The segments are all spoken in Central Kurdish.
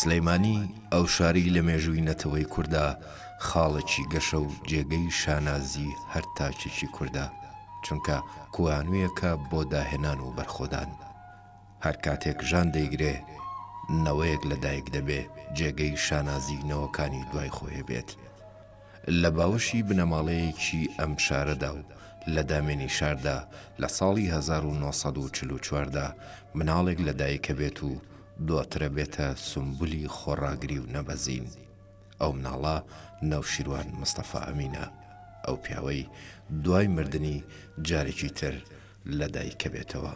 سلێمانی، ئەو شارەی لە مێژووی نەتەوەی کورددا خاڵێکی گەشە و جێگەی شانازی هەر تاکێکی کوردە، چونکە کوانوویەکە بۆ داهێنان و بەرخۆدان. هەر کاتێک ژان دەیگرێ، نەوەیەک لە دایک دەبێ جێگەی شانازی نەوەکانی دوای خۆێ بێت. لە باوەشی بنەماڵەیەکی ئەم شارەدا و لە دامێنی شاردا لە ساڵی هەزار و نۆ سەد و چل و چوار دا مناڵێک لە دایکە بێت و دواترە بێتە سومبولی خۆڕاگری و نەبەزین. ئەو مناڵە نەوشیروان مستەفا ئەمینە. ئەو پیاوەی دوای مردنی جارێکی تر لە دایک کەبێتەوە.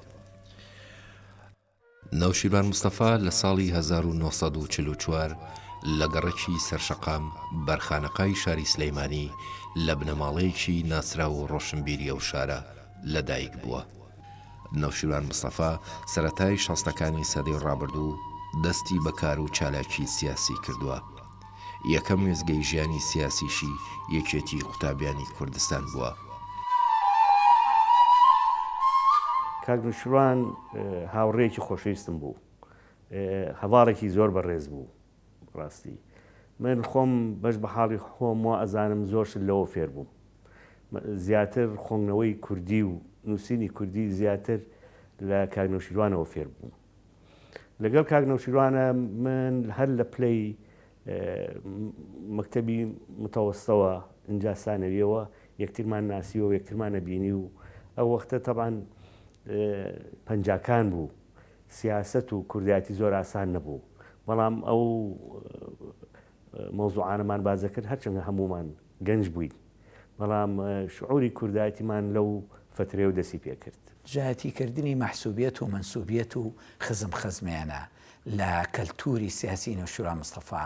نەوشیروان مستەفا لە ساڵی هەزار و نۆ سەد و چل و چوار لە گەڕەکی سەرشەقام بەرخانەقای شاری سلێمانی لە بنەماڵەیەکی ناسراو و ڕۆشنبیری ئەو شارە لە دایک بووە. نەوشیروان مستەفا سەرەتای شەستەکانی سەدەی ڕابردوو دەستی بە کار و چالاکی سیاسی کردووە. یەکەم وێستگەی ژیانی سیاسیشی یەکێتیی قوتابیانی کوردستان بووە. کاک نوشیروان هاوڕێیەکی خۆشەویستم بوو. هەڤاڵێکی زۆر بەڕێز بوو. بەڕاستی من خۆم بەش بە حاڵی خۆم وا ئەزانم زۆر شت لەوە فێر بووم. زیاتر خۆنگنەوەی کوردی و نووسینی کوردی زیاتر لە کاک نەوشیروانەوە فێر بووم. لەگەڵ کاک نەوشیروانە من هەر لە پلەی مەکتتەبی متەوەستەوە ئینجا سانەویەوە یەکترمان ناسی و یەکترمانە بینی و ئەو وەختە تەبان پەنجاکان بوو سیاست و کوردایەتی زۆر ئاسان نەبوو بەڵام ئەو مەوزوعانەمان باسدەکرد هەرچەندە هەموومان گەنج بووین بەڵام شعوری کوردایەتیمان لەو فەترەیەو دەسی پێکرد. دژایەتی کردنی مەحسوبیەت و مەنسوبیەت و خزم خەزمێنە لە کەلتوری سیاسی نەوشیروان مستەفا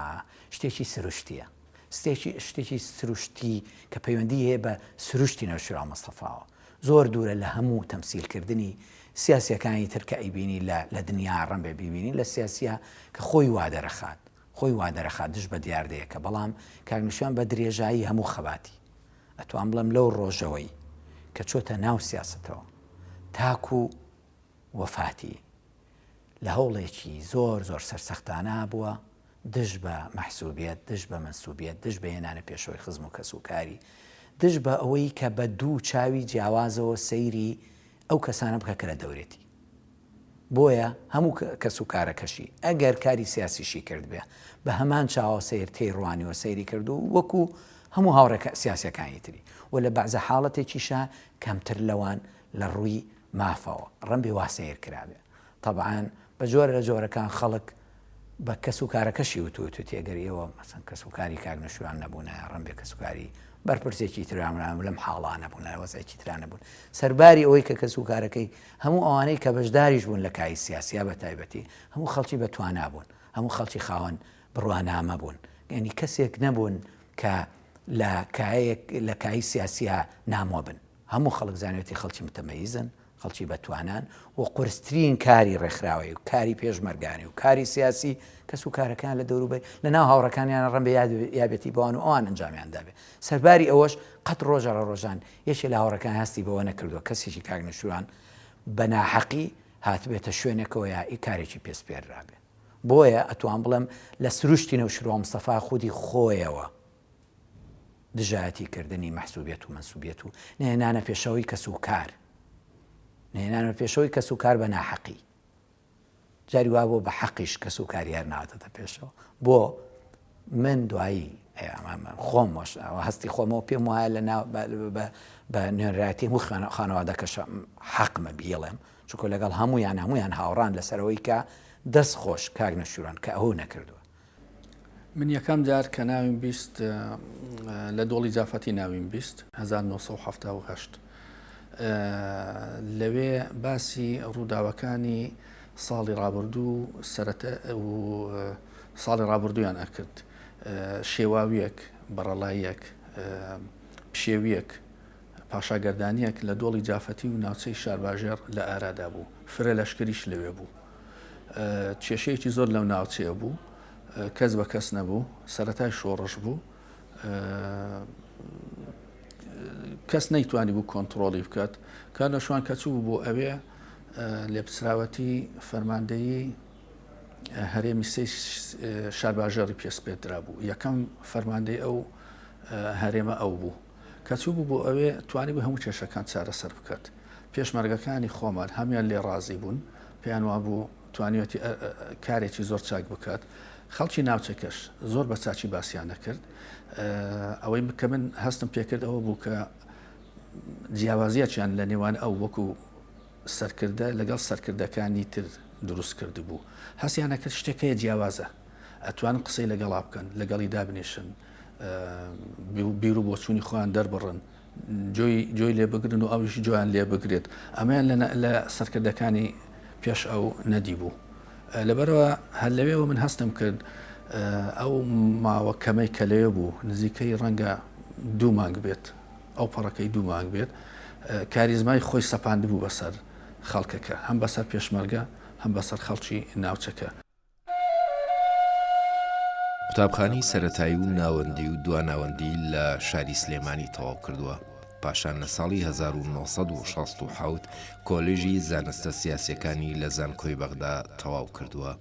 شتێکی سروشتیە ستێکی شتێکی سروشتی کە پەیوەندی هەیە بە سروشتی نەوشیروان مستەفاوە زۆر دورە لە هەموو تەمسیل کردنی سیاسیەکانی تر کە ئەیبینی لە لە دنیا ڕەنبێ بیبینی لە سیاسیە کە خۆی وادەرەخات خۆی وا دەرەخات دژ بە دیاردەیەکە، بەڵام کاک نەشیاوان بە درێژایی هەموو خەباتی، ئەتوانم بڵێم لەو ڕۆژەوەی کە چۆتە ناو سیاسەتەوە تاکوو وەفاتی، لە هەوڵێکی زۆر زۆر سەرسەختانە بووە دژ بە مەحسووبیەت، دژ بە مەنسووبیەت، دژ بە هێنانە پێشەوەی خزم و کەس و کاری، دژ بە ئەوەی کە بە دوو چاوی جیاوازەوە سەیری ئەو کەسانە بکە کە لە دەورێتی. بۆیە هەموو کەس و کارەکەشی ئەگەر کاری سیاسیشی کردبێ بە هەمان چاوە سەیر تێیڕوانیوە سەیری کردو وەکو هەموو هاوڕێ سیاسیەکانی تری و لە بەعزە حاڵەتێکیشا کەمتر لەوان لە ڕووی مافەوە ڕەنبێ وا سەیر کرابێ تەبعەن بە جۆرە لە جۆرەکان خەڵک بە کەس و کارەکەشی وتووت وتی گەر ئێوە مەسەن کەس و کاری کاک نەشوان نەبوون ڕم بێ کەس و کاری بەرپرسێکی تررامران لەم حاڵانە بوون وەزێکی ترانە بوون سەرباری ئەوەی کە کەس و کارەکەی هەموو ئەوانەی کە بەشداریش بوون لە کای سیاسیا بە تایبەتی هەموو خەڵکی بە توانا بوون هەموو خەڵکی خاوەن بڕوانامە بوون گەنی کەسێک نەبوون کە لە کایەک لە کای سیاسیا نامۆ بن هەموو خەڵک زانێتی خەڵکی متەمەیزن خەڵکی بەتوانان و قورسترین کاری ڕێکخراوەیی و کاری پێشمەرگانی و کاری سیاسی کەس و کارەکەیان لە دەوروبەر لە ناو هاوڕێکانیان ڕەنبێ یابێتی بۆن و ئەوان ئەنجامیان دابێ سەرباری ئەوەش قەت ڕۆژە ڕە ڕۆژان یەکێ لە هاوڕەکان هەستی بەوە نەکردووە کەسێکی کاک نوشتوان بە ناحەقی هاتبێتە شوێنێکەوە یا ئی کارێکی پێسپێررابێ بۆیە ئەتوان بڵێم لە سروشتی نەوشروان مستەفا خودی خۆیەوە دژایەتی کردنی مەحسوبیەت و مەنسوبیەت و نەهێنانە پێشەوەی کەس و کار نەهێنانە پێشەوەی کەس و کار بە ناحەقی جاری وا بۆ بە حەقیش کەس و کاریار ناوەتەتە پێشەوە بۆ من دوایی خۆم هەستی خۆمەوە پێم وایە لە بە نوێنراتی هەموو خوێنە خانەوادەکەشە حەقمە بیڵێم چکۆ لەگەڵ هەمویان هەمویان هاوڕان لەسەرەوەی کە دەست خۆش کاک نەشوران کە ئەو نەکردووە من یەکەم جار کە ناویم بیست لە دۆڵی جافەتی ناویم بیست 1970 لەوێ باسی ڕووداوەکانی ساڵی ڕابردوو سەرەتە و ساڵی ڕابردویان ئەکرد شێواویەک بەڕەڵاییەک پشێویەک پاشاگەردانیەک لە دۆڵی جافەتی و ناوچەی شارباژێڕ لە ئارادا بوو فرە لەشکریش لەوێ بوو کێشەیەکی زۆر لەو ناوچەیە بوو کەس بە کەس نەبوو سەتای شۆڕش بوو کەس نەیتوانی بوو کۆنتترۆڵی بکات کار لە شوان کەچوو بۆ ئەوێ لێپسراوەتی فەرماندەیی هەرێمی سێ شارباژێڕی پێسپێت درابوو یەکەم فەرماندەی ئەو هەرێمە ئەو بوو کە چووبوو بۆ ئەوێ توانیبووی هەموو کێشەکان چارەسەر بکات. پێشمەرگەکانی خۆمان هەموان لێ ڕازی بوون، پێیان وابوو توانیویەتی کارێکی زۆر چاک بکات. خەڵکی ناوچەکەش زۆر بە چاچی باسیان دەکرد. ئەوەی کە من هەستم پێکرد ئەوە بوو کە جیاوازیەکیان لە نێوان ئەو وەکو سەرکردە لەگەڵ سەرکردەکانی تر دروست کرد بوو هەستیانە کرد شتێکەیە جیاوازە ئەتوان قسەی لەگەڵا بکەن لەگەڵی دابنیشن بیر و بۆچوونی خۆیان دەربڕن جۆی لێ بگرن و ئەویش جویان لێ بگرێت ئەمەیان لە سەرکردەکانی پێش ئەو نەدی بوو لەبەرەوە هەر لەوێەوە من هەستم کرد ئەو ماوە کەمەی کە لەوێ بوو نزیکەی ڕەنگە دوو مانگ بێت ئەو پەڕەکەی دوو مانگ بێت کاریزمای خۆی سەپاند بوو بەسەر خەڵکەکە هەم بەسەر پێشمەرگە هەم بەسەر خەڵکی ناوچەکە قوتابخانەی سەرەتایی و ناوەندی و دوا ناوەندی لە شاری سلێمانی تەواو کردووە، پاشان لە ساڵی هەزار و نۆ سەد و شەست و حەوت کۆلێژی زانستە سیاسیەکانی لە زانکۆی بەغدا تەواو کردووە.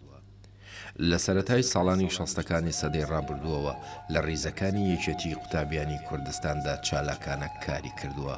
لە سەرەتای ساڵانی شەستەکانی سەدەی ڕابردووەوە لە ڕیزەکانی یەکێتی قوتابیانی کوردستاندا چالاکانە کاری کردووە.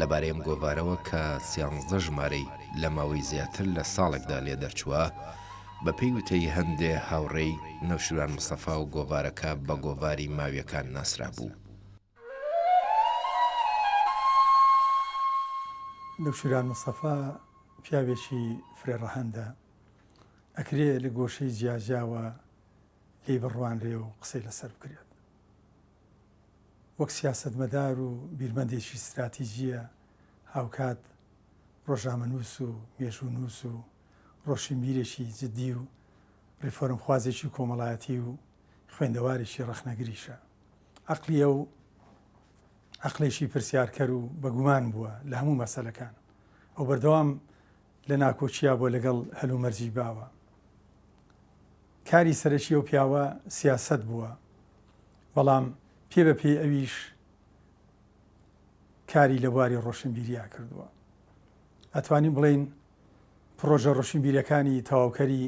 لەبارەی ئەم گۆڤارەوە کە سیانزدە ژمارەی لە ماوەی زیاتر لە ساڵێکدا لێ دەرچووە، بەپێی وتەی هەندێ هاوڕێی، نەوشیروان مستەفا و گۆڤارەکە بە گۆڤاری ماویەکان ناسرابوو. نەوشیروان مستەفا پیاوێکی فرە ڕەهەندە، ئەکرێ لە گۆشەی جیاجیاوە لێی بڕوانرێ و قسەی لەسەر بکرێت. وەک سیاسەتمەدار و بیرمەندێکی ستراتیجییە هاوکات ڕۆژنامەنووس و مێژوونووس و ڕۆشنبیرێکی جددی و ڕێفۆرمخوازێکی کۆمەڵایەتی و خوێندەوارێکی ڕەخنەگریشە. عەقڵی ئەو عەقڵێکی پرسیارکەر و بە گومان بووە لە هەموو مەسەلەکان. ئەو بەردەوام لە ناکۆکییە بووە لەگەڵ هەلومەرجی باوە. کاری سەرەکی ئەو پیاوە سیاسەت بووە بەڵام پێ بە پێی ئەویش کاری لە بواری ڕۆشنبیریا کردووە ئەتوانین بڵین پرۆژە ڕۆشنبیرەکانی تەواوکەری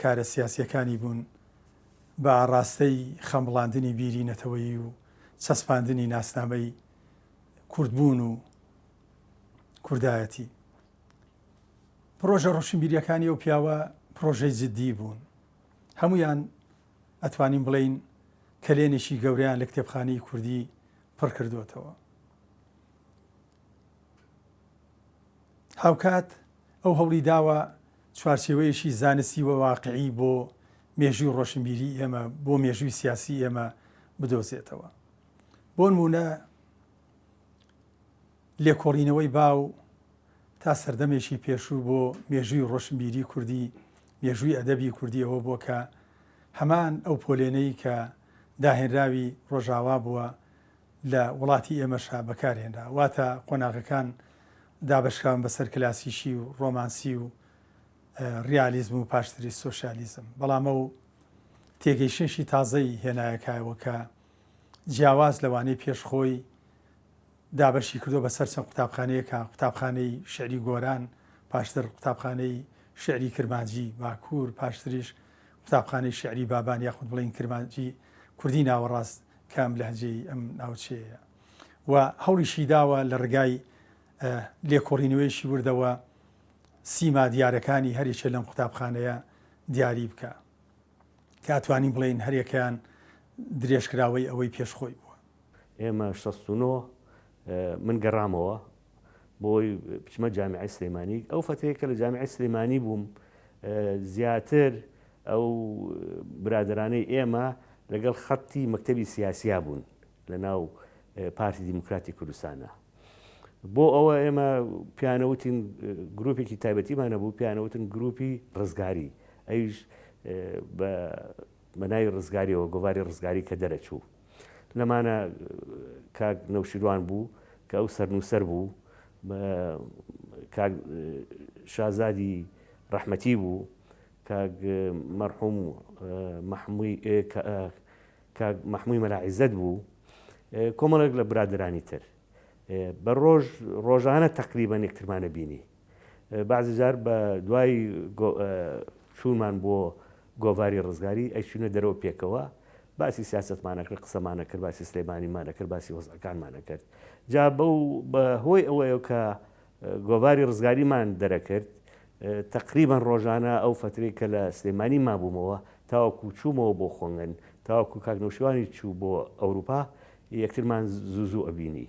کارە سیاسیەکانی بوون بە ئاڕاستەی خەمبڵاندنی بیری نەتەوەیی و چەسپاندنی ناسنامەی کوردبوون و کوردایەتی پڕۆژە ڕۆشنبیریەکانی ئەو پیاوە پڕۆژەی جدی بوون هەمویان ئەتوانین بڵێین کەلێنێکی گەوریان لە کتێبخانەی کوردی پڕکردوێتەوە هاوکات ئەو هەوڵی داوە چوارچێوەیەشی زانستی و واقعی بۆ مێژوی ڕۆشنبیری ئێمە بۆ مێژوی سیاسی ئێمە بدۆزێتەوە بۆ نمونە لێکۆڵینەوەی باو تا سەردەمێکی پێشوو بۆ مێژووی ڕۆشنبیری کوردی، مێژووی ئەدەبی کوردی ئەوە بووە کە هەمان ئەو پۆلێنەی کە داهێنراوی ڕۆژاوا بووە لە وڵاتی ئێمەشا بەکار هێنرا. واتە قۆناغەکان دابەشکراون بەسەر کلاسیکی و ڕۆمانسی و ڕیالیزم و پاشتریش سۆشیالیزم. بەڵام ئەو تێگەیشتنێکی تازەی هێنایە کایەوە کە جیاواز لەوانەی پێش خۆی دابەشی کردووە بەسەر چەند قوتابخانەیەکە، قوتابخانەی شیعری گۆران، پاشتر قوتابخانەی شیعری کرمانجی باکوور، پاشتریش قوتابخانەی شیعری بابان یاخود بڵێین کرمانجی کوردی ناوەڕاست کە ئەم لەهجەی ئەم ناوچەیەیە و هەوڵیشی داوە لە ڕگای لێکۆڵینەوەیەکی وردەوە سیما دیارەکانی هەریەکێ لەم قوتابخانەیە دیاری بکە کە ئەتوانین بڵێین هەریەکەیان درێژکراوەی ئەوەی پێشخۆی بووە. ئێمە شەست و نۆ من گەڕامەوە بۆی بچمە جامیعی سلێمانی ئەو فەتەیە کە لە جامیعی سلێمانی بووم زیاتر ئەو برادرانەی ئێمە لەگەڵ خەتی مەکتتەبی سیاسیا بوون لە ناو پارتی دیموکراتی کوردستانە بۆ ئەوە ئێمە پیانەوتین گروپێکی تایبەتیمانە بوو پیانەوتن گروپی ڕزگاری ئەوش بە بە ناوی ڕزگاریەوە گۆڤاری ڕزگاری کە دەرەچوو لەمانە کاک نەوشیروان بوو کە ئەو سەرنووسەر بوو شازادی ڕەحمەتی بوو مەرحوم مەحمووی مەلاعیزت بوو کۆمەڵێک لە برادرانی تر بە ڕۆژ ڕۆژانە تەقریبەن یەکترمانە بینی بەعزی جار بە دوای چوونمان بۆ گۆڤاری ڕزگاری ئەیچوونە دەرەوە پێکەوە باسی سیاستمانەکرد قسەمانەکرد باسی سلێمانیمانەکرد باسی وەزەکانمانەکرد جا بەو بە هۆی ئەوەیە کە گۆڤاری ڕزگاریمان دەرەکرد تقریبان ڕۆژانە ئەو فتری کە لە سلێمانی مابوومەوە تاوەکو چوومەوە بۆ خۆنگەن تاوەکو کاک نوشیوانی چوو بۆ ئەوروپا یەکترمان زوو زوو ئەبینی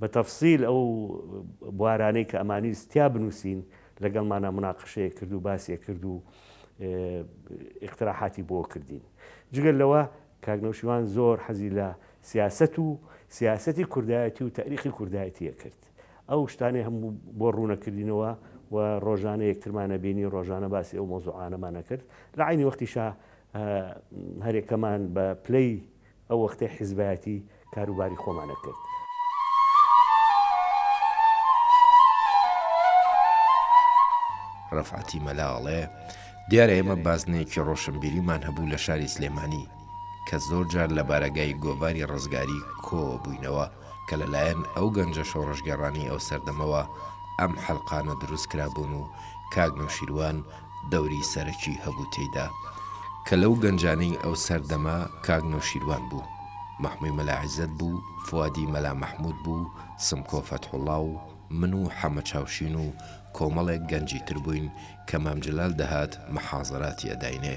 بە تەفسیل ئەو بوارانەی کە ئەمانویست تیا بنووسین لەگەڵمانا مناقشەیەک کرد و باسیە کرد و ئیقتراحاتی بۆ کردین جگەل لەوە کاک نەوشیوان زۆر حەزی لە سیاست و سیاستی کوردایەتی و تاریخی کوردایەتیە کرد ئەو شتانێ هەم بۆ ڕوونەکردینەوە و ڕۆژانە یەکترمانە بینی ڕۆژانە باسی ئەو مۆزوعانەمانە کرد لە عینی وەختیشا هەرێکەمان بە پلەی ئەو وەختەی حیزبایەتی کاروباری خۆمان ئەکرد. ڕەفعەتی مەلا ئەڵێ، دیارە ئێمە بازنەیەکی ڕۆشنبیریمان هەبوو لە شاری سلێمانی کە زۆر جار لە بارەگای گۆڤاری ڕزگاری کۆوە بووینەوە کە لە لایەن ئەو گەنجە شۆڕشگێڕانەی ئەو سەردەمەوە ئەم حەلقانە دروست کرابوون و کاک نەوشیروان دەوری سەرەکی هەبوو تێیدا کە لەو گەنجانەی ئەو سەردەمە کاک نەوشیروان بوو، مەحموی مەلا عیزەت بوو، فوادی مەلا مەحمود بوو، سمکۆ فەتحوڵا و من و حەمە چاوشین و کۆمەڵێک گەنجی تر بووین کە مام جلال دەهات محازەراتی ئەداینێ.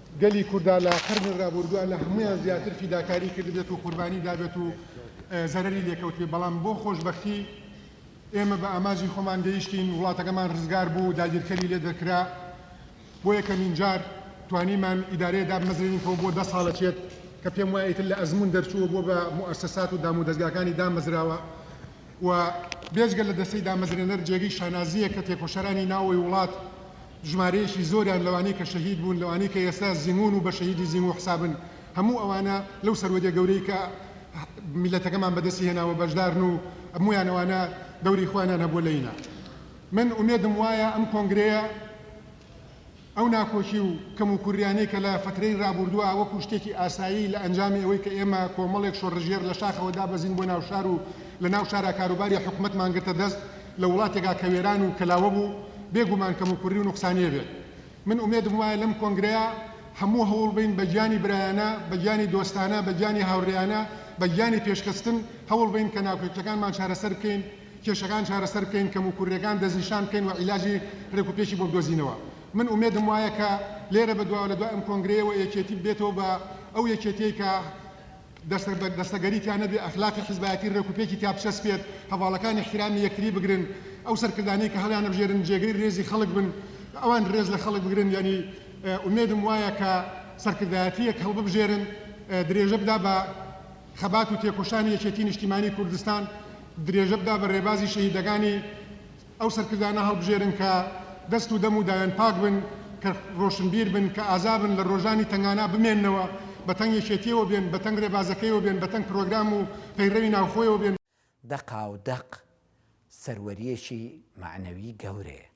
گەلی کوردا لە قەرنی رابوردوا لە هەموویان زیاتر فیداکاری کردبێت و قوربانی دابێت و زەرەری لێکەوتبێت، بەڵام بۆ خۆشبەختی ئێمە بە ئامانجی خۆمان گەیشتین، وڵاتەکەمان رزگار بوو، داگیرکەری لێ دەرکرا، بۆ یەکەمین جار توانیمان ئیدارەیە دابمەزرێنین کەو بۆ دە ساڵەچێت کە پێم وایە ئیتر لە ئەزموون دەرچووە بۆ بە موئەسەسات و دامودەزگاکانی دامەزراوە و بێجگە لە دەستەی دامەزرێنەر جێگەی شانازییە کە تێکۆشەرانی ناوەوەی وڵات ژمارەیەکی زۆریان لەوانەی کە شەهید بوون لەوانەی کە ئێستا زیموون و بە شەهیدی زیموو حسابن هەموو ئەوانە لەو سەروەدیە گەورەی کە میللەتەکەمان بەدەستی هێناوە بەشدارن و هەموویان ئەوانە دەوری خۆیانیان هەبووە لە ینا من ئومێدم وایە ئەم کۆنگرەیە ئەو ناکۆکی و کەموکوریانەی کە لە فەترەی رابووردوە وەکو شتێکی ئاسایی لە ئەنجامی ئەوەی کە ئێمە کۆمەڵێک شۆڕژێر لە شاخەوە دابەزین بۆ ناو شار و لە ناو شارا کاروباری حکومەتمان گرتە دەست لە وڵاتێکا کە وێران و کەلاوە بوو بێ گومان کەموکوری و نوقسانیە بێ من ئومێدم وایە لەم کۆنگرەیا هەموو هەوڵ بەین بە گیانی برایانە بە گیانی دۆستانە بە گیانی هاورێیانە بە گیانی پێشخستن هەوڵ بەین کە ناکۆکیەکانمان چارەسەر بکەین. کێشەکان چارەسەر بکەین کەموکوررێکان دەستنیشان بکەین و عیلاجی رێک و پێکی بۆ بدۆزینەوە من ئومێدم وایە کە لێرە بەدواوە لە دوای ئەم کۆنگرەیەوە یەکێتی ببێتەوە بە ئەو یەکێتیەی کە دەستەگەری تیا نەبێ ئەخلاقی حیزبایەتی رێک و پێکی تیا بچەسپێت هەڤاڵەکان ئیحتیرامی یەکتری بگرن ئەو سەرکردانەی کە هەڵیانەبژێرن جێگەی رێزی خەڵک بن ئەوان رێز لە خەڵک بگرن یانی ئومێدم وایە کە سەرکردایەتیەک هەڵببژێرن درێژە بدا بە خەبات و تێکۆشانی یەکێتی نیشتیمانی کوردستان درێژە بدا بە رێبازی شەهیدەگانی ئەو سەرکردانە هەڵبژێرن کە دەست و دەم و دایان پاک بن کە رۆشنبیر بن کە ئازا بن لە رۆژانی تەنگانا بمێننەوە بە تەنگ یەکێتیەوە بێن بە تەنگ رێبازەکەیەوە بێن بە تەنگ پرۆگرام و پەیڕەوی ناوخۆیەوە بێن. دەقاو دەق سەروەریەکی مەعنەوی گەورەیە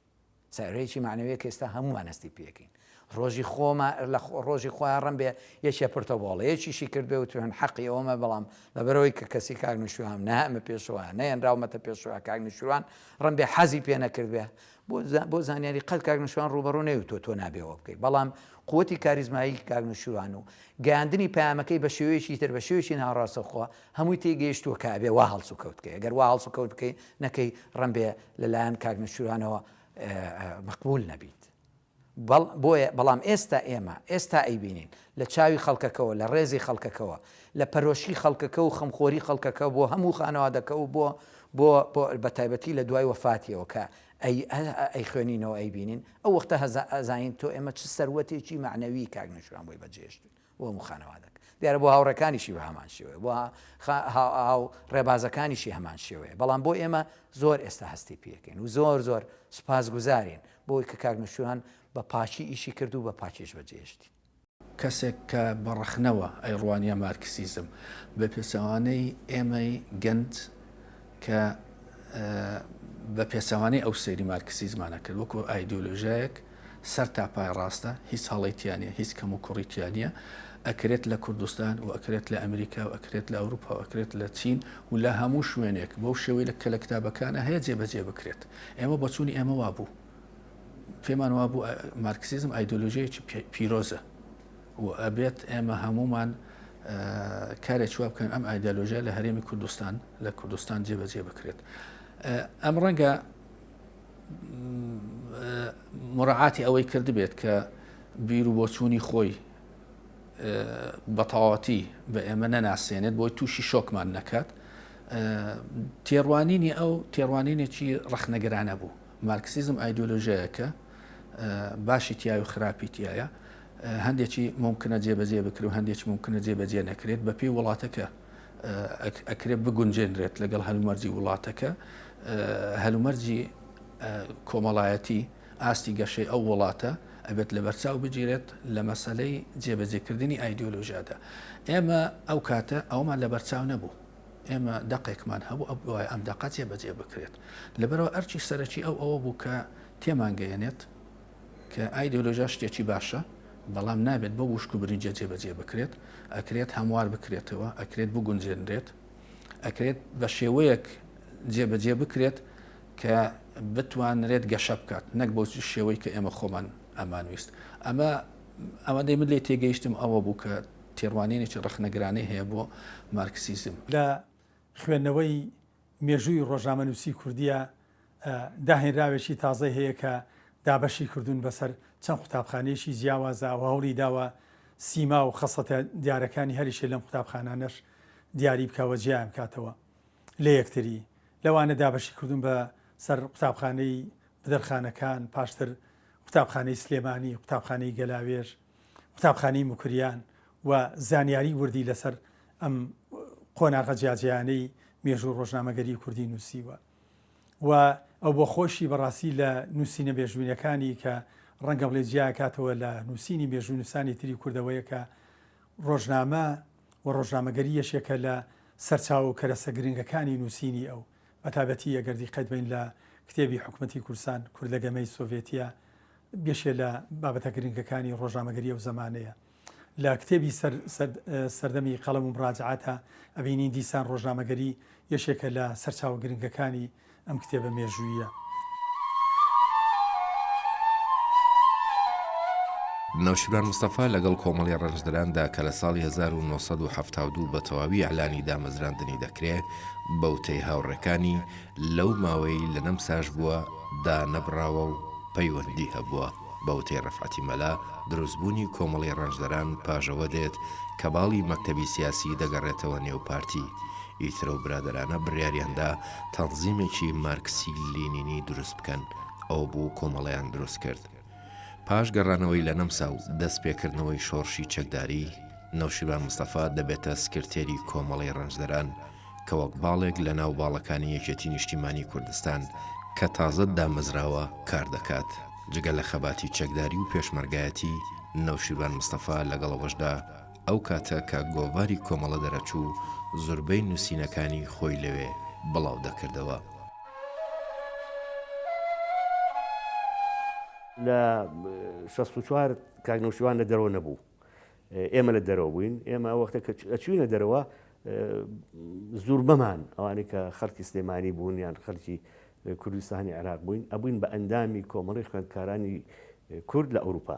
سەرەیەکی مەعنەویە کە ئێستا هەمووان هەستی پێکەین ڕۆژی خۆمە لە ڕۆژی خۆیان ڕم بێ یەکێ پرتە بۆڵەیەکیشی کرد بێ وتوێن حەقی ئەومە بەڵام لەبەرەوەی کە کەسی کاک نوشوان نامە پێشوە نەیەنراومەتە پێشوە کاک نوشوان ڕم بێ حەزی پێ نەکرد بێ بۆ زانیاری قەت کاک نوشوان ڕوبەڕوو نەوتۆ تۆ نابێەوە بکەیت بەڵام قوتی کاریزمایی کاک نوشوان و گەاندنی پامەکەی بە شێوەیەکی تر بە شێوەی ناڕاستەخوا هەمووی تێگەیشتووە کە ئەبێ وا هەڵس و کەوت بکەی، گەر وا هەڵس و کەوت بکەی نەکەی ڕەنبێ لە لایەن کاک نەوشیروانەوە مەقبول نەبیت. بەڵ بۆیە بەڵام ئێستا ئێمە ئێستا ئەیبینین لە چاوی خەڵکەکەوە لە ڕێزی خەڵکەکەوە لە پەرۆشی خەڵکەکە و خەمخۆری خەڵکەکە بۆ هەموو خانەوادەکە و بۆ بۆ بۆ بە تایبەتی لە دوای وەفاتیەوە کە ئەی ئەیخوێنینەوە ئەیبینین ئەو وەختە هەزا ئەزانین تۆ ئێمە چ سەروەتێکی مەعنەوی کاک نەوشیروان بۆی بەجێ هێشتووین. بۆ هەموو خانەوادەک دیارە بۆ هاوڕێکانیشی بە هەمان شێوەیە بۆ هاو ڕێبازەکانیشی هەمان شێوەیە بەڵام بۆ ئێمە زۆر ئێستا هەستی پێکەین و زۆر زۆر سوپاس گوزارین بۆی کە کاک نوشوان بە پاچی ئیشی کرد و بە پاچیش بە جێشتی. کەسێک کە بە ڕەخنەوە ئەیڕوانیە مارکسیزم بە پێچەوانەی ئێمەی گەنج کە بە پێچەوانەی ئەو سەیری مارکسیزمان ئەکرد وەکو ئایدیۆلۆژایەک، سەر تا پای ڕاستە هیچ هەڵەی تیا نیە هیچ کەم و کوڕی تیا نیە ئەکرێت لە کوردستان و ئەکرێت لە ئەمریکا و ئەکرێت لە ئەوروپا و ئەکرێت لە چین و لە هەموو شوێنێک بەو شێوەی کە لە کتابەکانە هەیە جێ بەجێ بکرێت ئێمە بۆچوونی ئێمە وابوو پێمان وابوو مارکسیزم ئایدۆلۆژیەکی پیرۆزە و ئەبێت ئێمە هەمومان کارێک وا بکەن ئەم ئایدالۆژە لە هەرێمی کوردستان لە کوردستان جێبەجێ بکرێت ئەم ڕەنگە مراعاتی ئەوەی کردبێت کە بیر و بۆچوونی خۆی بەتەواتی بە ئێمە نەناسێنێت بۆی تووشی شۆکمان نەکات تێڕوانینی ئەو تێڕوانینێکی ڕخنەگرانە بوو مارکسیزم ئایدۆلۆژەیەکە باشی تیاوی خراپی تایە هەندێکی ممکنە جێبەجێ بکرێت و هەندێکی ممکنە جێبەجێ نەکرێت بەپی وڵاتەکە ئەکرێت بگونجێنرێت لەگەڵ هەلومەرجی وڵاتەکە هەلومەرجی کۆمەڵایەتی ئاستی گەشەی ئەو وڵاتە ئەبێت لە بەرچاو بگیرێت لە مەسلەی جێبەجێکردنی ئایدۆلۆژیادا ئێمە ئەو کاتە ئەومان لە بەرچاو نەبوو ئێمە دەقێکمان هەبوو ئە بواە ئەم دەقە جێبەجێ بکرێت لەبەرەوە ئەرچی سەرەکی ئەو ئەوە بوو کە تێمانگەیەنێت کە ئایدیۆلۆژیا شتێکی باشە، بەڵام نابێت بەو وشک و برنجە جێبەجێ بکرێت، ئەکرێت هەموار بکرێتەوە، ئەکرێت بگونجێنرێت، ئەکرێت بە شێوەیەک جێبەجێ بکرێت کە بتوانرێت گەشە بکات، نەک بەو شێوەی کە ئێمە خۆمان ئەمانویست. ئەمە ئەوەندەی من لێی تێگەیشتم ئەوە بوو کە تێڕوانینێکی ڕەخنەگرانەی هەیە بۆ مارکسیزم. لە خوێندنەوەی مێژووی ڕۆژنامەنووسیی کوردییە، داهێنراوێکی تازەی هەیە کە دابەشی کردوون بەسەر چەند قوتابخانەیەکی جیاوازا و هەوڵی داوە سیما و خەسڵەتە دیارەکانی هەریەکێ لەم قوتابخانانەش دیاری بکا و جیایان بکاتەوە لە یەکتری، لەوانە دابەشی کردوون بە سەر قوتابخانەی بدرخانەکان، پاشتر قوتابخانەی سلێمانی، قوتابخانەی گەلاوێژ، قوتابخانەی موکریان و زانیاری وردی لەسەر ئەم قۆناغە جیاجیانەی مێژوو ڕۆژنامەگەری کوردی نووسیوە و ئەو بۆ خۆشی بەڕاستی لە نووسینە مێژوینەکانی کە ڕەنگە بڵێ جیاکاتەوە لە نووسینی مێژوو نووسانی تری کوردەوەیە کە ڕۆژنامە و ڕۆژنامەگەری یەشێکە لە سەرچاو و کەرەسە گرنگەکانی نووسینی ئەو بەتابەتی ئەگەر دیقەت بەین لە کتێبی حکومەتی کوردستان، کورد لە گەمەی سۆڤێتیە، بەشێ لە بابەتە گرنگەکانی ڕۆژنامەگەری ئەو زەمانەیە. لە کتێبی سەر سەر سەردەمی قەڵەم و مراجعاتە ئەبینین دیسان ڕۆژنامەگەری یەشێکە لە سەرچاوە گرنگەکانی ئەم کتێبە مێژووییە. نەوشیروان مستەفا لەگەڵ کۆمەڵی ڕەنجدەراندا کە لە ساڵی هەزار و نۆ سەد و حەفتا و دوو بە تەواوی ئیعلانی دامەزراندنی دەکرێ، بەوتەی هاوڕێکانی لەو ماوەی لە نەمساش بووە دانەبڕاوە و پەیوەندی هەبووە، بەوتەی ڕەفعەتی مەلا دروستبوونی کۆمەڵەی ڕەنجدەران پاژەوە دێت کە باڵی مەکتەبی سیاسی دەگەڕێتەوە نێو پارتی، ئیترەو برادەرانە بڕیاریاندا تەنزیمێکی مارکسی لینینی دروست بکەن، ئەوەبوو کۆمەڵەیان دروست کرد. پاش گەڕانەوەی لە نەمسا و دەست پێکردنەوەی شۆڕشی چەکداری، نەوشیروان مستەفا دەبێتە سکرتێری کۆمەڵەی ڕەنجدەران کە وەک باڵێک لە ناو باڵەکانی یەکێتی نیشتیمانی کوردستان کە تازە دامەزراوە کار دەکات. جگە لە خەباتی چەکداری و پێشمەرگایەتی، نەوشیروان مستەفا لەگەڵ ئەوەشدا، ئەو کاتە کە گۆڤاری کۆمەڵە دەرەچوو زوربەی نوسینەکانی خۆی لەوێ بڵاو دەکردەوە. لە شەست و چوار کاک نەوشیروان لە دەرەوە نەبوو ئێمە لە دەرەوە بووین ئێمە ئەو وەختە کە ئەچوینە دەرەوە زوربەمان ئەوانەی کە خەڵکی سلێمانی بوون یان خەلکی کوردستانی عێراق بووین ئەبووین بە ئەندامی کۆمەڵی خوێندکارانی کورد لە ئەوروپا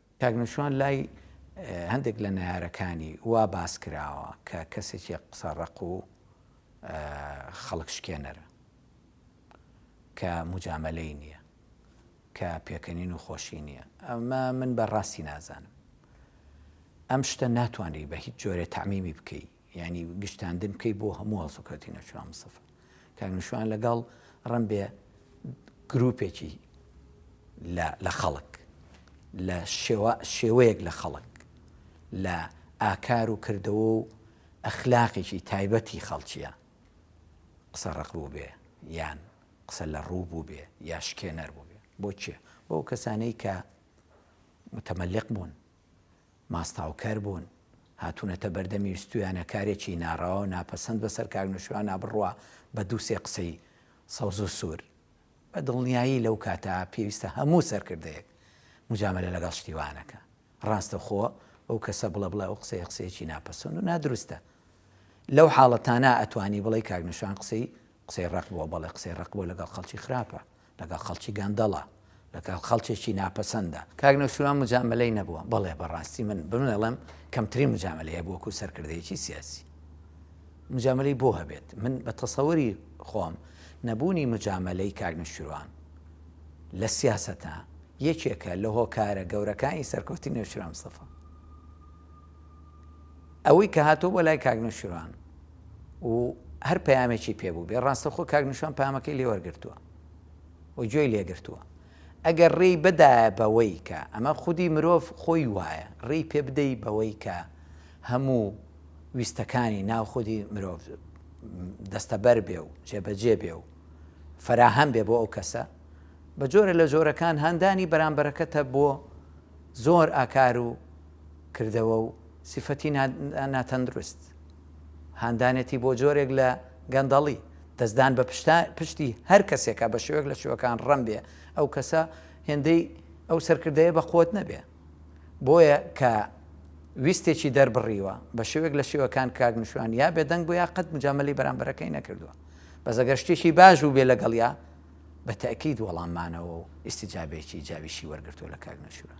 کاک نەوشیروان لای هەندێک لە نەیارەکانی وا باس کراوە کە کەسێکی قسە ڕەق و خەڵک شکێنەرە کە مجامەلەی نییە کە پێکەنین و خۆشی نییە ئەمە من بە ڕاستی نازانم ئەم شتە ناتوانری بە هیچ جۆرێ تعمیمی بکەی یانی گشتاندن بکەی بۆ هەموو هەڵسو کەوتی نەچوان مستەفا کاک نشوان لەگەڵ ڕم بێ گروپێکی لە خەڵک لە شێوەیەک لە خەڵک لە ئاکار و کردەوە و ئەخلاقێکی تایبەتی خەڵکیە قسە ڕق بوو بێ یان قسە لە ڕوو بوو بێ یا شکێنەر بوو بێ بۆ چێ بۆ کەسانەی کە متەمەلق بوون ماستاوکەر بوون، هاتوونەتە بەردەمی ویستوویانە کارێکی ناڕەوا و ناپەسەند بەسەر کاک نوشیرواندا بڕوا بە دوو سێ قسەی سەوز و سوور. بە دڵنیایی لەو کاتە پێویستە هەموو سەرکردەیەک موجامەلە لەگەڵ شتی وا نەکا. ڕاستەخۆ بەو کەسە بڵێ بڵێ ئەو قسەیە قسەیەکی ناپەسەند و نادروستە. لەو حاڵەتانە ئەتوانی بڵێی کاک نوشیروان قسەی قسەی ڕەق بووە، بەڵێ قسەی ڕەق بووە لەگەڵ خەڵکی خراپە. لەگەڵ خەڵکی گەندەڵە، لەگەڵ خەڵکێکی ناپەسەندە. کاک نەوشیروان موجامەلەی نەبووە؟ بەڵێ بەڕاستی من بمێڵێم کەمترین موجامەلەی هەبوو وەکو سەرکردەیەکی سیاسی. موجامەلەی بۆ هەبێت؟ من بە تەسەوری خۆم نەبوونی موجامەلەی کاک نەوشیروان لە سیاسەتا یەکێکە لە هۆکارە گەورەکانی سەرکەوتی نەوشیروان مستەفا. ئەوەی کە هاتووە بۆ لای کاک نەوشیروان و هەر پەیامێکی پێ بوو بێ ڕاستە خۆ کاک نوشان پامەکەی لێوەرگرتووە و گوێی لێگرتووە ئەگەر ڕێی بدایە بەوەی کە ئەمە خودی مرۆڤ خۆی وایە ڕێی پێ بدەی بەوەی کە هەموو ویستەکانی ناو خودی مرۆڤ دەستەبەر بێ و جێبەجێ بێ و فەراهەم بێ بۆ ئەو کەسە بە جۆرە لە جۆرەکان هاندانی بەرامبەرەکەتە بۆ زۆر ئاکار و کردەوە و سیفەتی ناتەندروست، هاندانێتی بۆ جۆرێک لە گەندەڵی، دەستدان بە پشتی هەر کەسێکە بە شێوەیەک لە شێوەکان ڕەم بێ ئەو کەسە هێندەی ئەو سەرکردەیە بە قوت نەبێ بۆیە کە ویستێکی دەربڕیوە بە شێوەیەک لە شێوەکان کاک نشوان یا بێدەنگ بۆ یا قەت مجاملی بەرامبەرەکەی نەکردووە بەس ئەگەر شتێکی باش بوو بێ لەگەڵیا بە تاکیید وەڵاممانەوە و ئیسیجابێکی جاویشی وەرگرتووە لە کاک نشوان.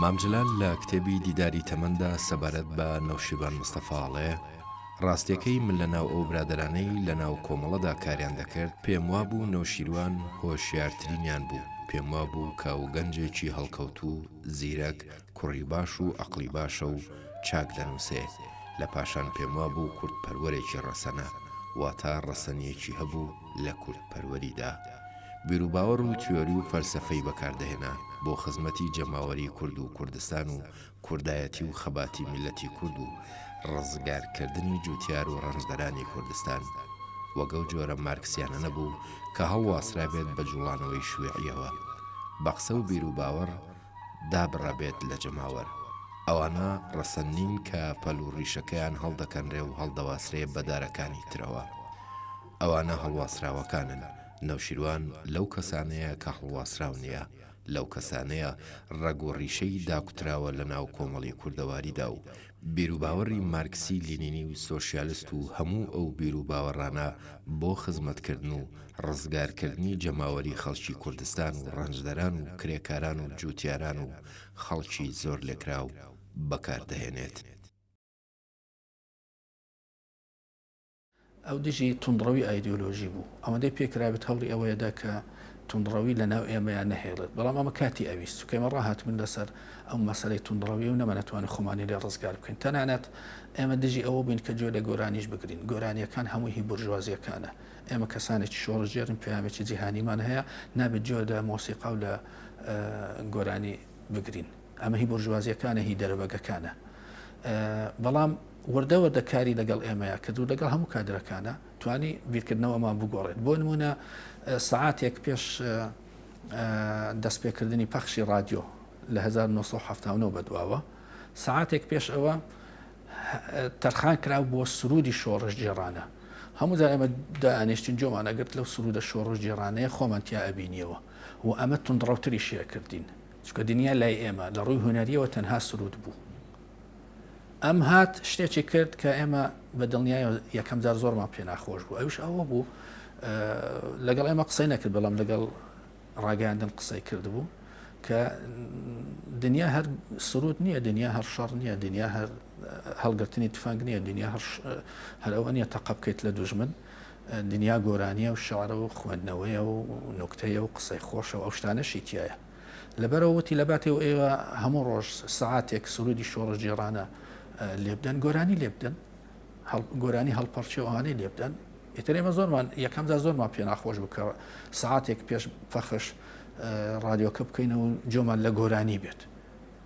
مام جەلال لە کتێبی دیداری تەمەندا سەبارەت بە نەوشیروان مستەفا ئەڵێ، ڕاستیەکەی من لە ناو ئەو برادەرانەی لە ناو کۆمەڵەدا کاریان دەکرد پێم وابوو نەوشیروان هۆشیارترینیان بوو، پێم وابوو کە ئەوگەنجێکی هەڵکەوتوو، زیرەک، کوڕی باش و ئەقڵی باشە و چاک دەنووسێ، لە پاشان پێم وابوو کوردپەروەرێکی ڕەسەنە، واتا ڕەسەنییەکی هەبوو لە کوردپەروەریدا. بیروباوەڕ و تیۆری و فەلسەفەی بەکار دەهێنا بۆ خزمەتی جەماوەری کورد و کوردستان و کوردایەتی و خەباتی میللەتی کورد و ڕزگارکردنی جووتیار و ڕەنجدەرانی کوردستان. وەک ئەو جۆرە مارکسیانە نەبوو کە هەڵواسرابێت بە جووڵانەوەی شویعییەوە. بە قسە و بیروباوەڕ، دابڕابێت لە جەماوەر، ئەوانە ڕەسەن نین کە پەل و ڕیشەکەیان هەڵدەکەنرێ و هەڵدەواسرێ بە دارەکانی ترەوە. ئەوانە هەڵواسراوەکانن، نەوشیروان لەو کەسانەیە کە هەڵواسراو نیە، لەو کەسانەیە ڕەگ و ڕیشەی داکوتراوە لە ناو کۆمەڵی کوردەواریدا و بیروباوەڕی مارکسی لینینی و سۆشیالست و هەموو ئەو بیروباوەڕانە بۆ خزمەتکردن و ڕزگارکردنی جەماوەری خەڵکی کوردستان و ڕەنجدەران و کرێکاران و جووتیاران و خەڵکی زۆرلێکراو بەکاردەهێنێت. ئەو دژی توندڕەوی ئایدیۆلۆژی بوو، ئەوەندەی پێ کرابێت هەوڵی ئەوەی دا کە توندڕەوی لە ناو ئێمەیا نەهێڵێت، بەڵام ئەمە کاتی ئەویست، چونکە ئێمە ڕاهاتبووین لە سەر ئەو مەسەلەی توندڕەوی و نەمانەتوانی خۆمانی لێ ڕزگار بکەین، تەنانەت ئێمە دژی ئەوە بووین کە گوێ لە گۆرانیش بگرین، گۆرانییەکان هەمووی هی بورژوازییەکانە، ئێمە کەسانێکی شۆڕشگێڕین پەیامێکی جیهانیمان هەیە، نابێت گوێ لە مۆسیقا و لە گۆرانی بگرین. ئەمە هی بۆرژوازیەکانە هی دەرەبەگەکانە بەڵام وردە وردە کاری لەگەڵ ئێمەیە کرد و لەگەڵ هەموو کادرەکانە توانی بیرکردنەوەمان بگۆڕێت بۆ نمونە سعاتێک پێش دەستپێکردنی پەخشی رادیۆ لە 1970 بەدواوە سعاتێک پێش ئەوە تەرخان کرا بۆ سرودی شۆڕش جێڕانە هەموو جا ئەمە دانیشتین جۆمان ئەگرت لەو سرودە شۆڕش جێڕانەیە خۆمان تیا ئەبینیەوە و ئەمە تونڕەوتری شێ کردین چونکە دنیا لای ئێمە لە ڕووی هونەریەوە تەنها سرود بوو ئەم هات شتێکی کرد کە ئێمە بە دڵنیای یەکەم جار زۆرمان پێ ناخۆش بوو ئەوش ئەوە بوو لەگەڵ ئێمە قسەی نەکرد بەڵام لەگەڵ ڕاگەاندن قسەی کردبوو کە دنیا هەر سرود نییە دنیا هەر شەڕ نییە دنیا هەر هەڵگرتنی تفەنگ نییە دنیا هەر ئەوە نیە تەقە بکەیت لە دوژمن دنیا گۆرانیە و شعرە و خوێندنەوەیە و نوکتەیە و قسەی خۆشە و ئەو شتانەشی تیایە. لەبەرئەوە وتی لەباتێ و ئێوە هەموو ڕۆژ سەعاتێک سروودی شۆڕشگێڕانە لێبدەن، گۆرانی لێبدەن، گۆرانی هەڵپەڕکێ و ئەوانەی لێبدەن، ئیتر ئێمە زۆرمان یەکەمجار زۆرمان پێ ناخۆش بوو کە سەعاتێک پێش پەخش ڕادیۆکە بکەینەوە و جۆمان لە گۆرانی بێت.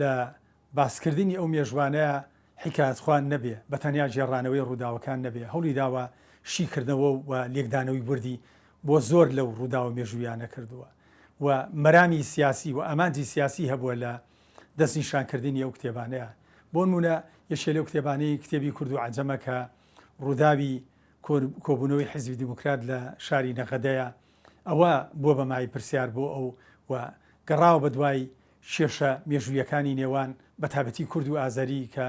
لە باسکردنی ئەو مێژوانەیا حیکایەتخوان نەبێ، بە تەنیا گێڕانەوەی ڕووداوەکان نەبێ، هەوڵی داوە شیکردنەوە و لێکدانەوەی وردی بۆ زۆر لەو ڕووداوە مێژووییانە کردووە و مەرامی سیاسی و ئامانجی سیاسی هەبووە لە دەستنیشانکردنی ئەو کتێبانەیا. بۆنموونە یەکێ لەو کتێبانەی کتێبی کورد و عەجەمە کە ڕووداوی کۆبوونەوەی حیزبی دیموکرات لە شاری نەغەدەیە، ئەوە بووە بە مای پرسیار بۆ ئەو و گەڕاوە بە دوای کێشە مێژوویەکانی نێوان بە تایبەتی کورد و ئازەری کە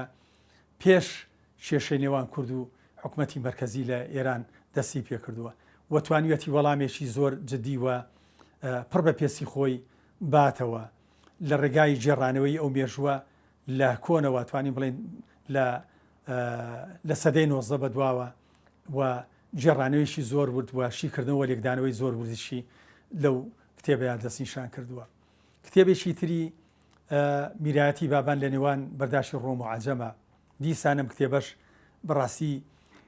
پێش کێشەی نێوان کورد و حکومەتی مەرکەزی لە ئێران دەستی پێ کردووە و توانیویەتی وەڵامێکی زۆر جدی و پڕ بە پێسی خۆی باتەوە لە ڕێگای گێڕانەوەی ئەو مێژووە لە کۆنەوە توانین بڵێن لە لە سەدەی نۆزدە بە دواوە و گێڕانەوەیەکی زۆر ورد و شیکردنەوە و لێکدانەوەی زۆر وردیشی لەو کتێبەیان دەستنیشان کردووە کتێبێکی تری میراتی بابان لە نێوان بەرداشی ڕۆم و عجەمە دیسانم کتێبەش بەڕاستی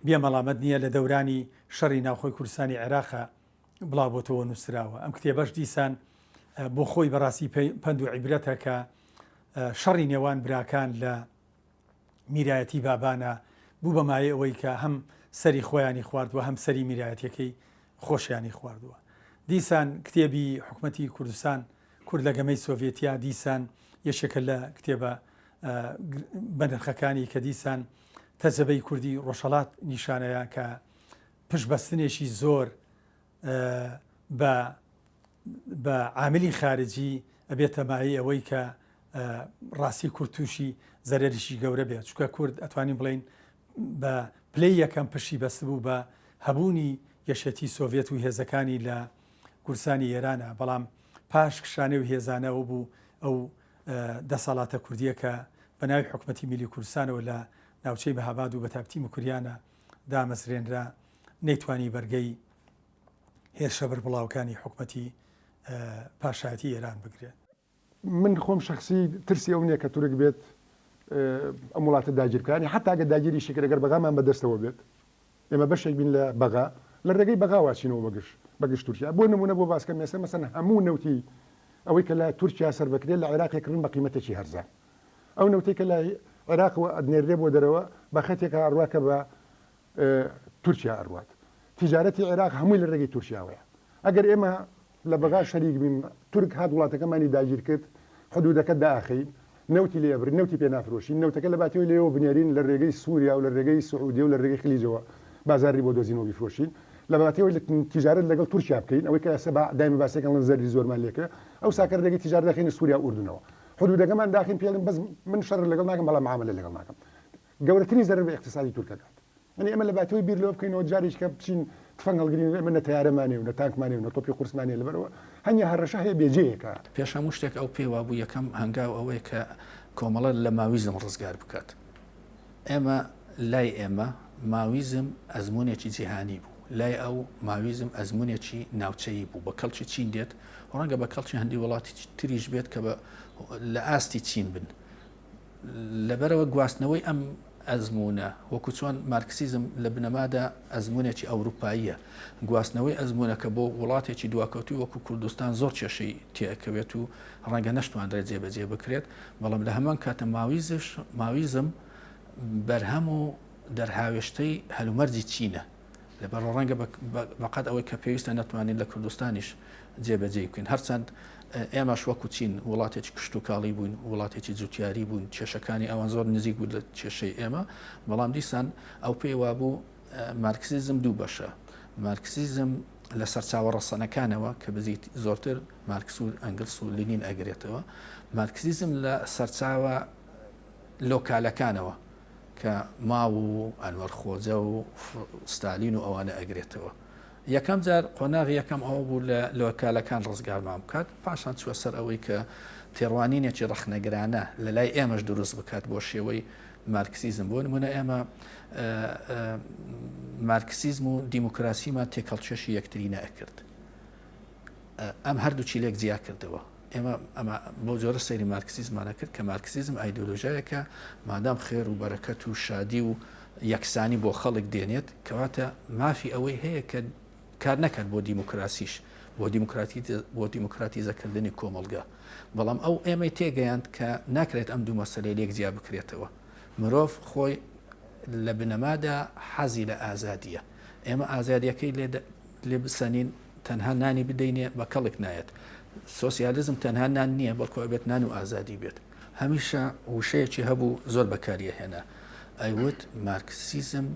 بێمەڵامەت نییە لە دەورانی شەڕی ناوخۆی کوردستانی عێراقە بڵاوبتەوە نووسراوە ئەم کتێبەش دیسان بۆ خۆی بەڕاستی پند و عیبرەتەکە شەڕی نێوان براکان لە میرایەتی بابانە بوو بە مایەی ئەوەی کە هەم سەری خۆیانی خواردوە هەم سەری میرایەتەکەی خۆشیانی خواردووە دیسان کتێبی حکوومەتتی کوردستان کورد لە گەمەی سۆڤێتیا دیسان یەشێکە لە کتێبە بەنرخەکانی کە دیسان تەجەبەی کوردی ڕۆژهڵات نیشانەیە کە پشبەستنێکی زۆر بە بە عاملی خارجی ئەبێتە مایەی ئەوەی کە ڕاستی کورد تووشی زەرەریی گەورە بێت چکە کورد ئەتوانین بڵین بە پلەی یەکەم پشی بەستبوو بە هەبوونی یەشێتی سۆڤێت و هێزەکانی لە گورسانی ئێرانە بەڵام پاش کشانێ و هێزانەوە بوو ئەو دەسەڵاتە کوردیەکە بە ناوی حکوومەتتی میلی کوردستانەوە لە ناوچەی بەهاباد و بەتابتی مکریانە دامەزرێنرا نەیتوانی بەرگەی هێرشە بەربڵاوەکانی حکومەتی پاشایەتی ئێران بگرێ. من خۆم شەخسی ترسی ئەو نیە کە تورک بێت ئەم وڵاتە داگیر بکە، یانی حەتا گەر داگیریشی کرد گەر بەغامان بە دەستەوە بێت، ئێمە بەشێک بین لە بەغا، لە ڕێگەی بەغاوە ئەچینەوە بە گژ بە گژ تورکیا. بۆ نموونە بۆ باس کەم ئێستا مەسەن هەموو نەوتی ئەوەی کە لە تورکیا سەرف ئەکرێ لە عێراق ئەکڕن بە قیمەتێکی هەرزان. ئەو نەوتەی کە لە عێراقەوە ئەدنێررێ بۆ دەرەوە بە خەتێکا ئەڕوا کە بە تورکیا ئەروات تیجارەتی عێراق هەمووی لە رێگەی تورکیاوەیە ئەگەر ئێمە لە بەغا شەریک بین تورک هات وڵاتەکەمانی داگیر کرد حدودەکە داخەین نەوتی لێ ئەبرین نەوتی پێ نافرۆشین نەوتەکە لە باتیۆی لێوە بنێرین لە رێگەی سووریا و لە رێگەی سعودیە و لە رێگەی خلیجەوە بازاڕی بۆ دۆزین و بیفرۆشین لە باتیۆی لە تیجارەت لەگەڵ تورکیا بکەین ئەوەی کە ئێستا بە دایمە باسەکە لەن زەرری زۆرمان لێ کرد ئەوسا کە رێگەی تیجارەت دەخەینە سووریا و ئوردنەوە حدودەکەمان داخین پێڵین بەس من شەڕ لەگەڵ ناکەم بەڵام معاملە لەگەڵ ناکەم گەورەترین زەرەر بە ئیقتیسادی تورک ئەکات. یانی ئێمە لەباتەوەی بیر لەوە بکەینەوە جارێکیکە بچین تفەنگ هەڵگرین، ئێمە نە تەیارەمان هەیە و نە تانکمان هەیە و نە تۆپی قورسمان هەیە، لەبەرئەوە هەنگێ هەڕەشە هەیە بێجێیەکە. پێش هەموو شتێک ئەو پێی وابوو یەکەم هەنگاو ئەوەیە کە کۆمەڵە لە ماویزم ڕزگار بکات. ئێمە لای ئێمە ماویزم ئەزموونێکی جیهانی بوو، لای ئەو ماویزم ئەزموونێکی ناوچەیی بوو، بە کەڵکی چین دێت و ڕەنگە بە کەڵکی هەندی وڵاتی تریش بێت کە لە ئاستی چین بن. لەبەرئەوە گواستنەوەی ئەم ئەزموونە، وەکو چۆن مارکسیزم لە بنەمادا ئەزموونێکی ئەوروپاییە، گواستنەوەی ئەزموونەکە بۆ وڵاتێکی دواکەوتووی وەکو کوردستان زۆر کێشەی تێئەکەوێت و ڕەنگە نەشتوانرێت جێبەجێ بکرێت، بەڵام لە هەمان کاتە ماویزم بەرهەم و دەرهاوێشتەی هەلومەرجی چینە. لەبەر ڕەنگە بەقەت ئەوەی کە پێویستە نەتوانین لە کوردستانیش جێبەجێ بکەین هەرچەند ئێمەش وەکو چین وڵاتێکی کشتتوکاڵی بووین وڵاتێکی جوتیاری بوون کێشەکانی ئەوان زۆر نزیک بوو لە کێشەی ئێمە بەڵام دیسان ئەو پێی وابوو مارکسیزم دوو بەشە مارکسیزم لە سەرچاوە ڕەسەنەکانەوە کە بزیت زۆرتر مارکسور ئەنگلس و لینین ئەگرێتەوە مارکسیزم لە سەرچاوە لۆکالەکانەوە کە ماو و ئەنوەر خۆجە و ستالین و ئەوانە ئەگرێتەوە. یەکەم جار قۆناغی یەکەم ئەوە بوو لە لۆکالەکان ڕزگارمان بکات، پاشان چووە سەر ئەوەی کە تێڕوانینێکی ڕەخنەگرانە لە لای ئێمەش دروست بکات بۆ شێوەی مارکسیزم. بۆ نموونە ئێمە مارکسیزم و دیموکراسیمان تێکهەڵکێشی یەکتری نەئەکرد. ئەم هەردووکی لێک جیا کردەوە. ئێمە ئەمە بەو جۆرە سەیری مارکسیزمانە کرد کە مارکسیزم ئایدۆلۆژایەکە مادام خێر و بەرەکەت و شادی و یەکسانی بۆ خەڵک دێنێت کەواتە مافی ئەوەی هەیە کە کار نەکات بۆ دیموکراسیش بۆ دیموکراتی بۆ دیموکراتیزەکردنی کۆمەلگا بەڵام ئەو ئێمەی تێگەیاند کە ناکرێت ئەم دوو مەسلەی لێک جیا بکرێتەوە مرۆڤ خۆی لە بنەمادا حەزی لە ئازادیە ئێمە ئازادیەکەی لێ بسەنین تەنها نانی بدەینێ بە کەڵک نایەت. سۆسیالیزم تەنها نان نییە، بەڵکو ئەبێت نان و ئازادی بێت. هەمیشە وشەیەکی هەبوو زۆر بەکاری ئەهێنا، ئەیوت مارکسیزم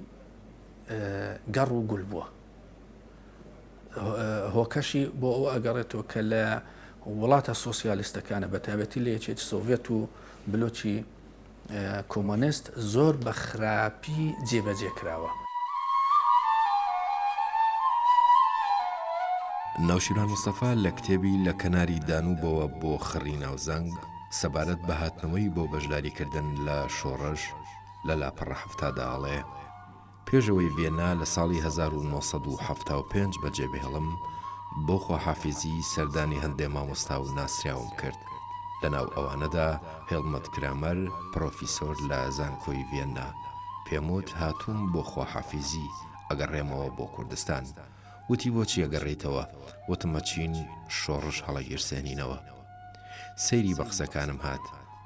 گەڕ و گول بووە. هۆکەشی بۆ ئەو ئەگەڕێتەوە کە لە وڵاتە سۆسیالیستەکانە بەتابەتی لە یەکێتی سۆڤێت و بلۆکی کۆمۆنست زۆر بە خراپی جێبەجێ کراوە. ناوشیروان مستەفا لە کتێبی لە کەناری دانوبەوە بۆ خڕی ناوزەنگ سەبارەت بە هاتنەوەی بۆ بەشداریکردن لە شۆڕش لە لاپەڕە حەفتادا ئەڵێ، پێش ئەوەی ڤێنا لە ساڵی هەزار و نۆ سەد و حەفتا و پێنج بەجێبهێڵم، بۆ خواحافیزی سەردانی هەندێ مامۆستا و ناسراوم کرد، لەناو ئەوانەدا هێڵمت کرامەر، پرۆفیسۆر لە زانکۆی ڤێننا. پێموت هاتووم بۆ خواحافیزی، ئەگەڕێمەوە بۆ کوردستان. وتی بۆچی ئەگەڕێیتەوە؟ وتم ئەچین شۆڕش هەڵەگیرسێنینەوە. سەیری بە قسەکانم هات،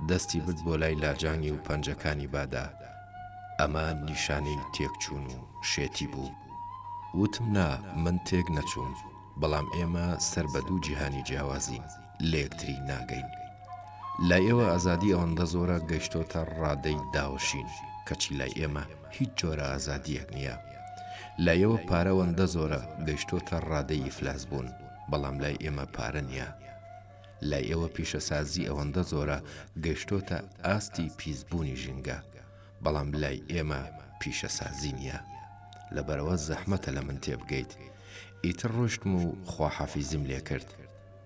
دەستی برد بۆ لای لاجانی و پەنجەکانی بادا. ئەمە نیشانەی تێکچوون و شێتی بوو. وتم نا من تێک نەچووم، بەڵام ئێمە سەر بە دوو جیهانی جیاوازین، لەیەکتری ناگەین. لای ئێوە ئازادی ئەوەندە زۆرە گەیشتۆتە ڕادەی داوەشین، کەچی لای ئێمە. هیچ جۆرە ئازادیەک نیە لایەوە پارە وەندە زۆرە گەشتۆتە ڕادەی ئیفلاس بوون بەڵام لای ئێمە پارە نیە لای ئێوە پیشەسازی ئەوەندە زۆرە گەشتۆتە ئاستی پیس بوونی ژینگە بەڵام لای ئێمە پیشەسازی نیە لەبەرەوە زەحمەتە لە من تێبگەیت ئیتر ڕۆشتم و خواحافیزیم لێکرد.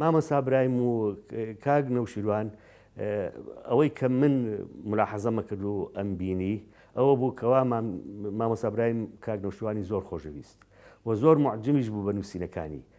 مامۆسا برایم و کاک نەوشیروان ئەوەی کە من ملاحەزەمە کرد و ئەم بینی ئەوە بوو کەوا مامۆسا برایم کاک نەوشیروانی زۆر خۆشەویست و زۆر معجمیش بوو بە نووسینەکانی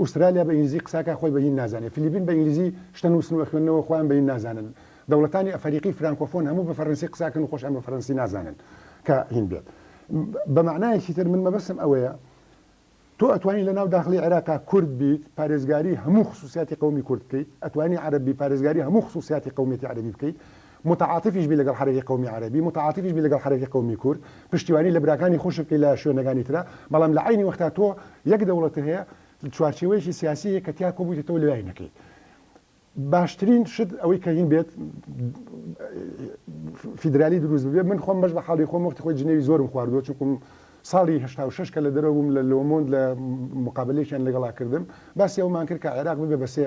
ئوسترالیا بە ئینگلیزی قساکا خۆی بە هین نازانێ فلیپین بە ئینگلیزی شتە نوسن وە خوێندنەوە خۆیان بە هین نازانن دەوڵەتانی ئەفەریقی فرانکۆفۆن هەموو بە فەرەنسی قساکەن و خۆشیان بە فەرەنسی نازانن کە هین بێت بە مەعنایەکی تر من مەبەستم ئەوەیە تۆ ئەتوانی لە ناو داخلی عێراقا کورد بیت پارێزگاری هەموو خصوصیاتی قەومی کورد بکەیت ئەتوانی عەرەب بی پارێزگاری هەموو خصوصیاتی قەومیەتی عەرەبی بکەیت متعاتفیش بی لەگەڵ حەرەکەی قەومی عەرەبی، متعاتفیش بی لەگەڵ حەرەکەی قەومی کورد، پشتیوانی لە براکانی خۆشت بکەی لە شوێنەکانی ترا، بەڵام لە عەینی وەختا تۆ یەک دەوڵەتت هەیە، چوارچێوەیەکی سیاسی هەیە کە تیا کۆبوویتەتەوە لەلای نەکەی. باشترین شت ئەوەی کە هین بێت فیدرالی دروست ببێت، من خۆم بەش لە حاڵی خۆم وەختی خۆی جنێوی زۆرم خواردووە، چونکوم ساڵی هەشتا و شەش کە لە دەرەوە بووم لە لۆمۆند لە موقابەلەیەکیان لەگەڵا کردم، باسی ئەوەمان کرد کە عێراق ببێ بە سێ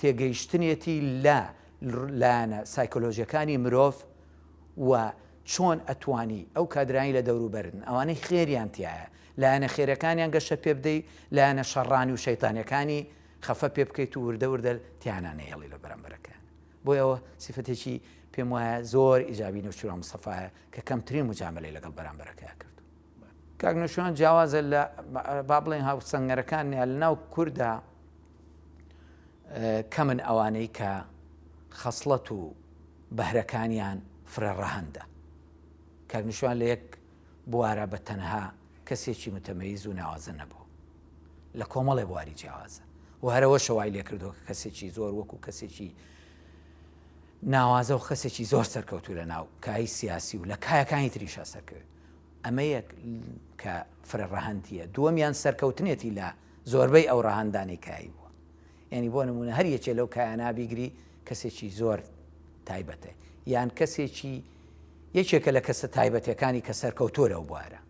تێگەیشتنێتی لە لایەنە سایکۆلۆژیەکانی مرۆڤ و چۆن ئەتوانی ئەو کادرانی لە دەوروبەرن ئەوانەی خێریان تایە لایەنە خێرەکانیان گەشە پێ بدەی لایەنە شەڕانی و شەیتانەکانی خەفە پێ بکەیت و وردە وردە تیانانەیەڵی لە بەرەمبەرەکەیان بۆی ئەوە سیفەتێکی پێم وایە زۆر ئیجابی نەوشیرا مستەفاە کە کەمترین مجاملەی لەگەڵ بەرامبەرەکەیان کردو کاک نەوشیروان جیاوازە لە با بڵێین هاوسەنگەرەکان یا لە ناو کوردا کەمن ئەوانەی کە خەسڵەت و بەهرەکانیان فرە ڕەهەندە کاک نوشوان لە یەک بوارە بە تەنها کەسێکی متەمەیز و ناوازە نەبوو لە کۆمەڵێ بواری جیاوازە و هەرەوە شەوای لێ کردووە کە کەسێکی زۆر وەکو کەسێکی ناوازە و خەسێکی زۆر سەرکەوتو لە ناو کای سیاسی و لە کایەکانی تریشا سەرکەوێت ئەمە یەک کە فرە ڕەهەندییە دووەمیان سەرکەوتنێتی لە زۆربەی ئەو ڕەهەندانەی کایی بووە یعنی بۆ نمونە هەر یەکێ لەو کایانە بیگری کەسێکی زۆر تایبەتە یان کەسێکی یەکێکە لە کەسە تایبەتەکانی کە سەرکەوتۆ لەو بوارە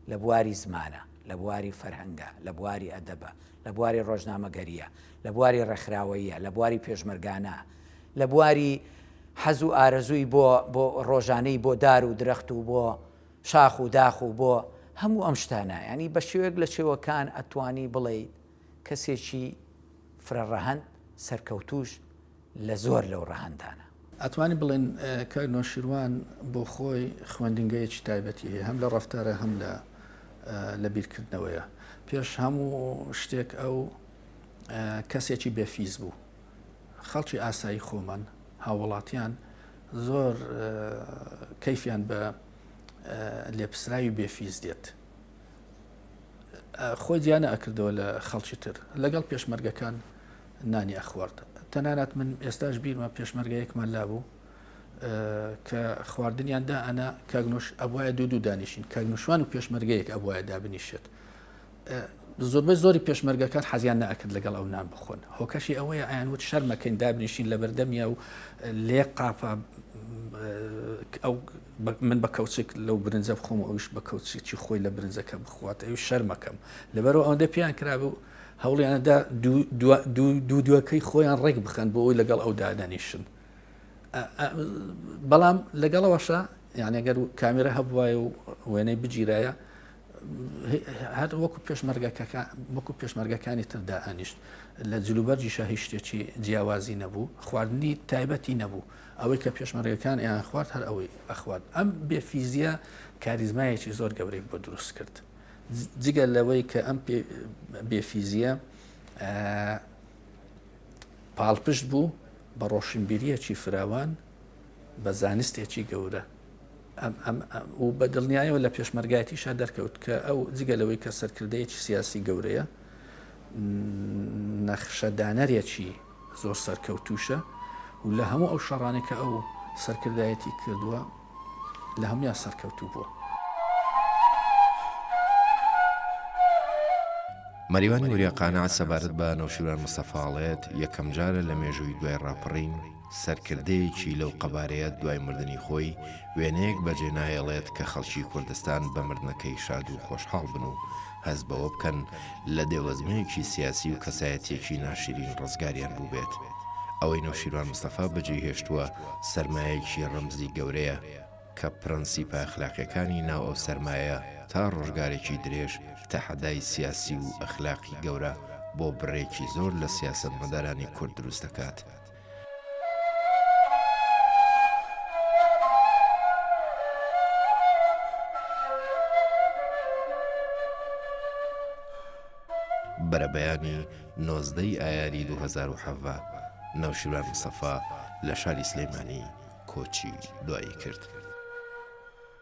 لە بواری زمانە لە بواری فەرهەنگە لە بواری ئەدەبە لە بواری ڕۆژنامەگەرییە، لە بواری ڕێکخراوەییە، لە بواری پێشمەرگانە، لە بواری حەز و ئارەزووی بۆ بۆ ڕۆژانەی بۆ دار و درەخت و بۆ شاخ و داخ و بۆ هەموو ئەم شتانە یانی بە شێوەیەک لە شێوەکان ئەتوانی بڵێیت کەسێکی فرەڕەهەند سەرکەوتووش لە زۆر لەو ڕەهەندانە. ئەتوانین بڵێین کاک نەوشیروان بۆ خۆی خوێندنگەیەکی تایبەتی هەیە هەم لە ڕەفتارە هەم لە لە بیرکردنەوەیە پێش هەموو شتێک ئەو کەسێکی بێ فیز بوو خەڵکی ئاسایی خۆمان هاوڵاتیان زۆر کەیفیان بە لێپسراوی بێ فیز دێت خۆی دیانە ئەکردەوە لە خەڵکی تر لەگەڵ پێشمەرگەکان نانی ئەخوارد تەنانەت من ئێستاش بیرمە پێشمەرگەیەکمان لابوو کە خواردنیان دا ئەنا کاگنۆش ئەبواە دوو دوو دانیشین کاگنوشوان و پێشمەرگەیەک ئەبواە دابنیشێت زۆربەی زۆری پێشمەرگەکان حەزیان ناکرد لەگەڵ ئەو نان بخۆن هۆکەشی ئەوەیە ئایان وت شەرمەکەین دابنیشین لە بەردەمیا و لێ قاپا ئەو من بە کەوچێک لەو برنجە بخۆم ئەوش بە کەوچێکی خۆی لە برنجەکە بخوات ئەو شەرمەکەم لەبەرەوە ئەوەندە پێیان کرابوو هەوڵیاندا دوو دوەکەی خۆیان ڕێک بخەن بۆ ئەوی لەگەڵ ئەو دادەنیشن بەڵام لەگەڵەوەشە یانەگەر کامیرە هەبواە و وێنەی بگیرایە هەر وەکو پێشمەرگەکەکە وەکو پێشمەرگەکانی تردا ئەنیشت لە جلوبەرجی شاهی شتێکی جیاوازی نەبوو خواردنی تایبەتی نەبوو ئەوەی کە پێشمەرگەکان یان خوارد هەر ئەوەی ئەخوارد ئەم بێفیزیە کاریزمایەکی زۆر گەورەی بۆ دروست کرد جگە لەوەی کە ئەم بێفیزیە پاڵپشت بوو بە ڕۆشنبیریەکی فراوان بە زانستێکی گەورە و بە دڵنیایەوە لە پێشمەرگایەتیشا دەرکەوت کە ئەو جگە لەوەی کە سەرکردەیەکی سیاسی گەورەیە نەخشەدانەرێکی زۆر سەرکەوتووشە و لە هەموو ئەو شەڕانێک کە ئەو سەرکردایەتی کردووە لە هەموان سەرکەوتوو بووە. مەریوان نوریا قانع سەبارەت بە نەوشیروان مستەفاڵێت یەکەم جارە لە مێژووی دوای ڕاپەڕین سەرکردەیەکی لەو قەبارەیە دوای مردنی خۆی وێنەیەک بەجێ نایەڵێت کە خەڵکی کوردستان بە مردنەکەی شاد و خۆشحاڵ بن و هەست بەوە بکەن لە دێوەزمەیەکی سیاسی و کەسایەتیەکی ناشرین ڕزگاریان بووبێت. ئەوەی نەوشیروان مستەفا بەجێی هێشتووە سەرمایەیەکی ڕەمزی گەورەیە کە پرەنسیپە ئەخلاقیەکانی ناو ئەو سەرمایەیە تا ڕۆژگارێکی درێژ تەحەدای سیاسی و ئەخلاقی گەورە بۆ بڕێکی زۆر لە سیاسەتمەدارانی کورد دروست دەکات. بەرەبەیانی نۆزدە ی ئایاری دوو هەزار و حەڤە، نەوشیروان مستەفا لە شاری سلیمانی کۆچی دوایی کرد.